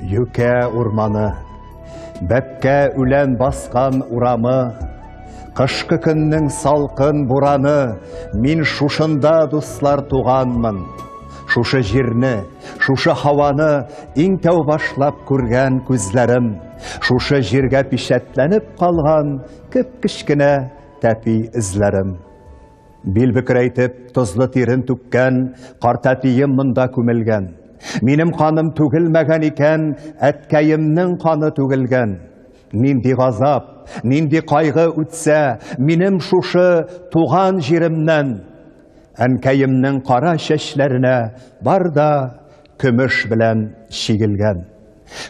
Юкә урманы, бәпкә үлән баскан урамы, Кышкы көннең салкын бураны, Мин шушында, дуслар, туганмын. Шушы җирне, шушы һаваны Иң тәү башлап күргән күзләрем, Шушы җиргә пичәтләнеп калган Кеп-кечкенә тәпи эзләрем. Бил бөкрәйтеп, тозлы тирен түккән, картәтием монда күмелгән. Минем каным түгелмәгән икән, әткәемнең каны түгелгән. Нинди газап, нинди кайгы үтсә, минем шушы туган җиремнән. Әнкәемнең кара чәчләренә бар да Көмеш белән чигелгән.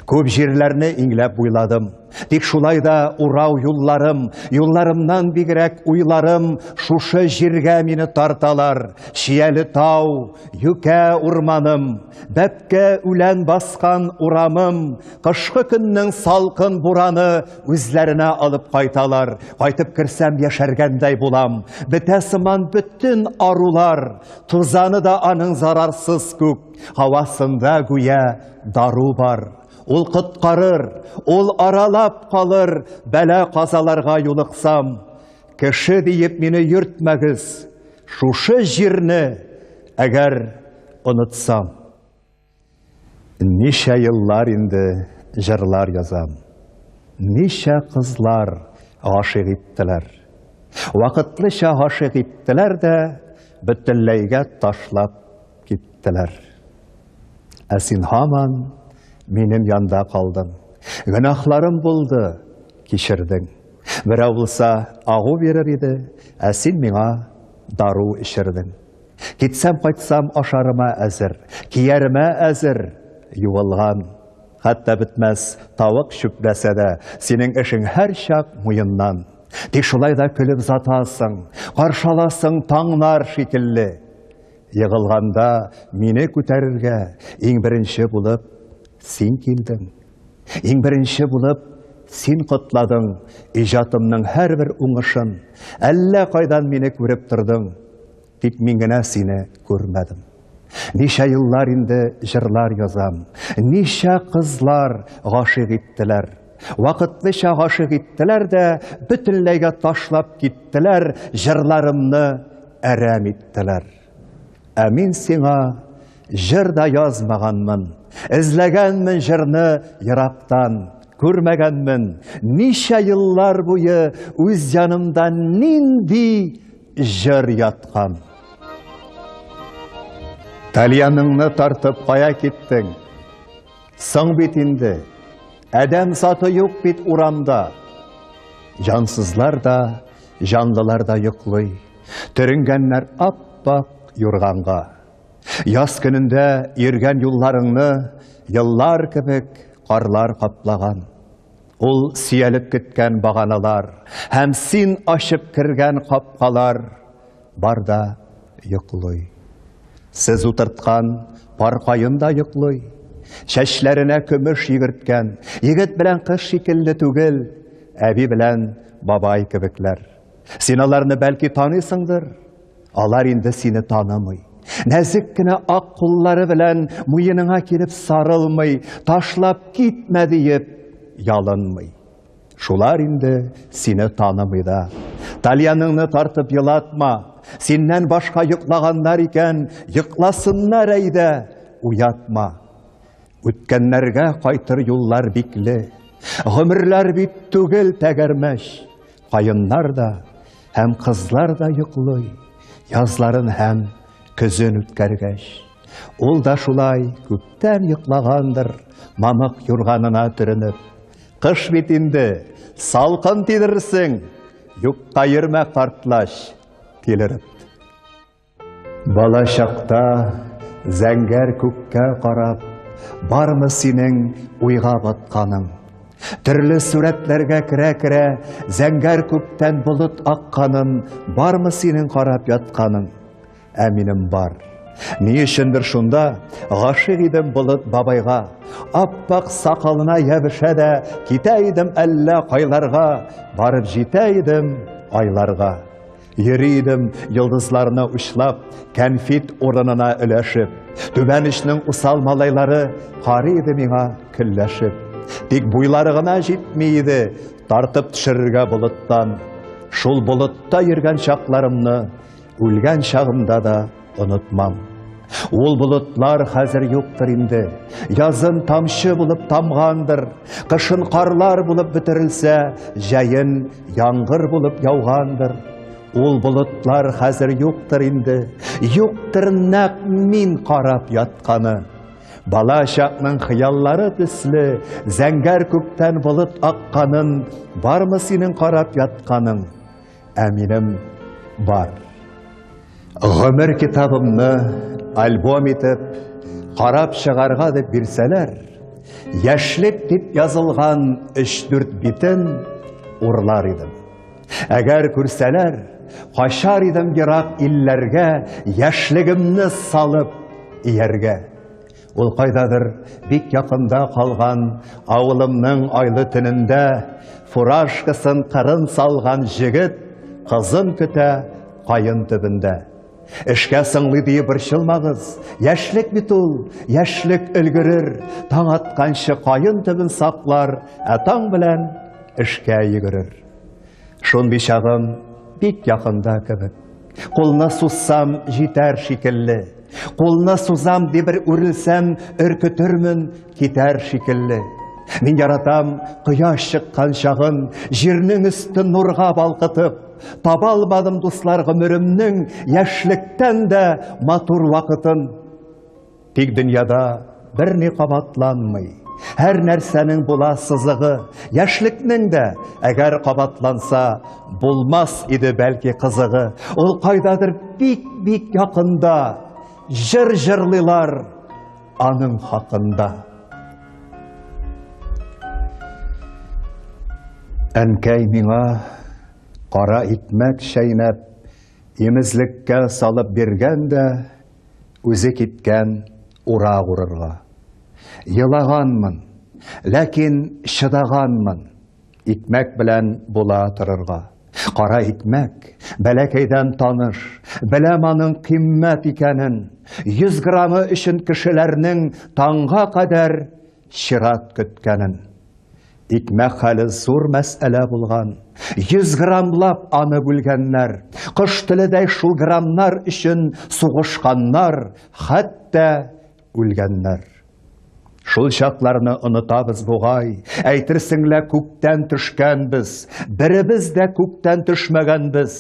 Күп җирләрне иңләп буйладым. Тик шулай да урау юлларым, юлларымнан бигрәк уйларым шушы җиргә мине тарталар. Чияле тау, юкә урманым, бәпкә үлән баскан урамым, кышкы көннең салкын бураны үзләренә алып кайталар. Кайтып керсәм, яшәргәндәй булам. Бетә сыман бөтен арулар. Тузаны да аның зарарсыз күк һавасында гүя дару бар. Ул коткарыр, ул аралап калыр, бәла казаларга юлыксам. Кеше диеп мине йөртмәгез, шушы җирне әгәр онытсам. Ничә еллар инде җырлар язам. Ничә кызлар гашыйк иттеләр. Вакытлыча гашыйк иттеләр дә, бөтенләйгә ташлап киттеләр. Ә син һаман минем янда калдың. Гөнаһларым булды, кичердең. Берәү булса, агу бирер иде, ә син миңа дару эчердең. Китсәм, кайтсам, ашарыма әзер, кияремә әзер, юылган. Хәтта бетмәс тавык чүпләсә дә, синең эшең һәр чак муеннан. Тик шулай да көлеп затасың, каршаласың таңнар шикелле. Егылганда мине күтәрергә иң беренче булып син килдең. Иң беренче булып син котладың иҗатымның һәрбер уңышын. Әллә кайдан мине күреп тордың. Тик мин генә сине күрмәдем. Ничә еллар инде җырлар язам. Ничә кызлар гашыйк иттеләр. Вакытлыча гашыйк иттеләр дә, бөтенләйгә ташлап киттеләр, җырларымны әрәм иттеләр. Ә мин сиңа җыр да язмаганмын. Эзләгәнмен җырны ерактан, күрмәгәнмен. Ничә еллар буе үз янымда нинди җыр яткан. Тальяныңны тартып кая киттең? Соң бит инде. Әдәм саты юк бит урамда. Җансызлар да, җанлылар да йоклый. Төренгәннәр ап-ак юрганга. Яз көнендә йөргән юлларыңны еллар кебек карлар каплаган. Ул сөялеп көткән баганалар һәм син ачып кергән капкалар бар да йоклый. Сез утырткан пар каен да йоклый. Чәчләренә көмеш йөгерткән егет белән кыз шикелле түгел, әби белән бабай кебекләр. Син аларны, бәлки, таныйсыңдыр? Алар инде сине танымый. Нәзек кенә ак куллары белән муеныңа килеп сарылмый, ташлап китмә диеп ялынмый. Шулар инде сине танымый да. Тальяныңны тартып елатма. Синнән башка йоклаганнар икән, йокласыннар әйдә, уятма. Үткәннәргә кайтыр юллар бикле. Гомерләр бит түгел тәгәрмәч. Каеннар да һәм кызлар да йоклый, язларын һәм көзен үткәргәч. Ул да шулай күптән йоклагандыр, мамык юрганына төренеп. Кыш бит инде, салкын тидерерсең, юкка йөрмә, картлач, тилереп. Бала чакта зәңгәр күккә карап, бармы синең уйга батканың? Төрле сурәтләргә керә-керә, зәңгәр күктән болыт акканын, бармы синең карап ятканың? Ә минем бар. Ни өчендер шунда гашык идем болыт бабайга, аппак сакалына ябышә дә, китә идем әллә кайларга, барып җитә идем айларга. Йөри идем йолдызларны учлап, кәнфит урынына өләшеп. Түбән эшнең усал малайлары карый иде миңа көлләшеп. Тик буйлары гына җитми иде, тартып төшерергә болыттан. Шул болытта йөргән чакларымны, үлгән чагымда да Онытмам. Ул болытлар хәзер юктыр инде. Язын тамчы булып тамгандыр, кышын карлар булып бетерелсә, җәен яңгыр булып яугандыр. Ул болытлар хәзер юктыр инде. Юктыр нәк мин карап ятканы. Бала чакның хыяллары төсле, зәңгәр күктән болыт акканын, бармы синең карап ятканың? Ә минем бар. Гомер китабымны альбом итеп, карап чыгарга дип бирсәләр, яшьлек дип язылган 3-4 битен урлар идем. Әгәр күрсәләр, качар идем ерак илләргә, яшьлегемне салып ияргә. Ул кайдадыр бик якында калган авылымның айлы төнендә фуражкасын кырын салган җегет кызын көтә каен төбендә. Эшкә сыңлый дию борчылмагыз, яшьлек бит ул, яшьлек өлгерер, таң атканчы каен төбен саклар, ә таң белән эшкә йөгерер. Шундый чагым бик якында кебек. Кулны сузсам, җитәр шикелле. Кулны сузам, ди бер үрелсәм, өркетермен, китәр шикелле. Мин яратам кояш чыккан чагын, җирнең өсте нурга балкытып. Таба алмадым дуслар гомеремнең яшьлектән дә матур вакытын. Тик дөньяда берни кабатланмый. Һәр нәрсәнең була сызыгы, яшьлекнең дә, әгәр кабатланса, булмас иде бәлки кызыгы. Ул кайдадыр бик-бик якында, җыр җырлыйлар аның хакында. Әнкәй миңа кара икмәк чәйнәп, имезлеккә салып биргән дә, Үзе киткән урак урырга. Елаганмын, ләкин чыдаганмын. Икмәк белән була торырга. Кара икмәк, бәләкәйдән таныш, беләм аның кыйммәт икәнен. Йөз граммы өчен кешеләрнең таңга кадәр Чират көткәнен, икмәк хәле зур мәсьәлә булган. Йөз граммлап аны бүлгәннәр. Кош теледәй шул граммнар өчен сугышканнар, хәтта үлгәннәр. Шул чакларны онытабыз бугай, әйтерсең лә күктән төшкәнбез, беребез дә күктән төшмәгәнбез,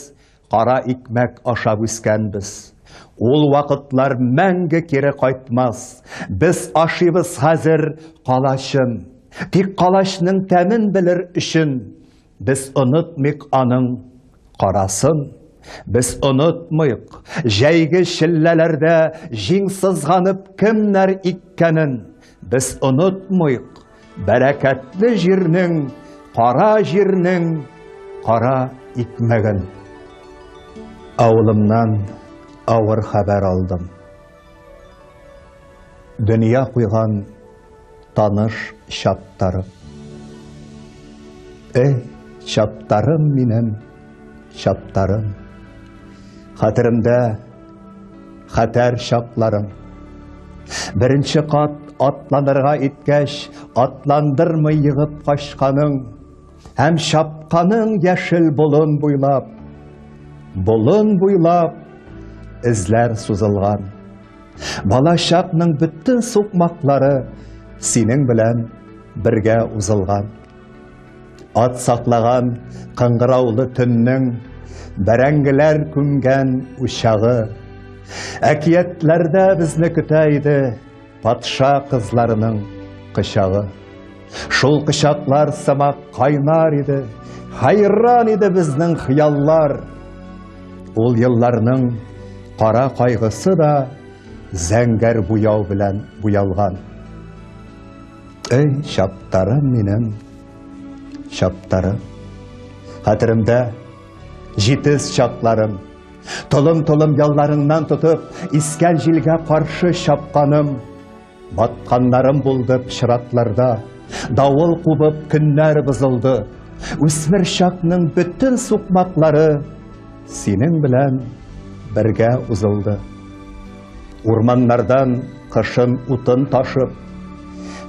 Кара икмәк ашап үскәнбез. Ул вакытлар мәңге кире кайтмас. Без ашыйбыз хәзер калачын. Тик калачның тәмен белер өчен без онытмыйк аның карасын. Без онытмыйк, җәйге челләләрдә җиң сызганып кемнәр иккәнен, Без онытмыйк, бәрәкәтле җирнең, кара җирнең кара икмәген. Авылымнан авыр хәбәр алдым. Дөнья куйган таныш чаттарым. Эй, чаттарым минем! чаптарым, хәтеремдә хәтәр чакларым. Беренче кат атланырга иткәч, атландырмый егып качканың һәм чапканың яшел болын буйлап, болын буйлап эзләр сузылган. Бала чакның бөтен сукмаклары синең белән бергә узылган. Ат саклаган кыңгыраулы төннең бәрәңгеләр күмгән учагы. Әкиятләрдә безне көтә иде патша кызларының кычагы. Шул кычаклар сымак кайнар иде, хайран иде безнең хыяллар. Ул елларның кара кайгысы да зәңгәр буяу белән буялган. Эй, чаптарым минем, чаптарым. Хәтеремдә җитез чапларым. Толым-толым ялларыңнан тотып, искән җилгә каршы чапканым. Батканнарым булды пычратларда, давыл кубып көннәр бозылды. Үсмер чакның бөтен сукмаклары синең белән бергә узылды. Урманнардан кышын утын ташып,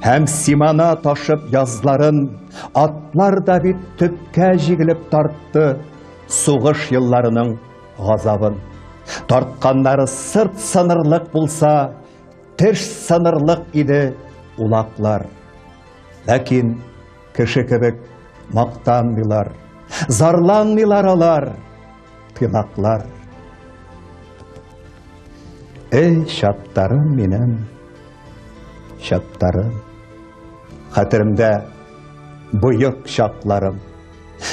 Һәм симана ташып язларын, Атлар да бит төпкә җигелеп тартты Сугыш елларының газабын. Тартканнары сырт сынырлык булса, Теш сынырлык иде улаклар. Ләкин кеше кебек мактанмыйлар, Зарланмыйлар алар. Тынаклар. Эй, чаттарым минем, чаттарым. Хәтеремдә боек чакларым.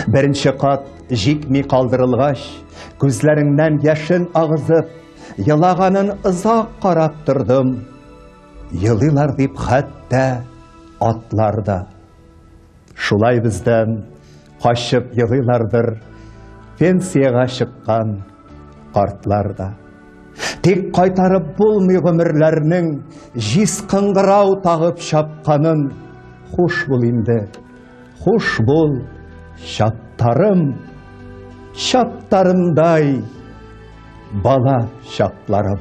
Беренче кат җикми калдырылгач, күзләреңнән яшен агызып, елаганын озак карап тордым. Елыйлар дип хәтта атлар да. Шулай бездән качып елыйлардыр пенсиягә чыккан картлар да. Тик кайтарып булмый гомерләрнең җиз кыңгырау тагып чапканын. Хуш бул инде, хуш бул, чаттарым, чаттарымдай бала чакларым.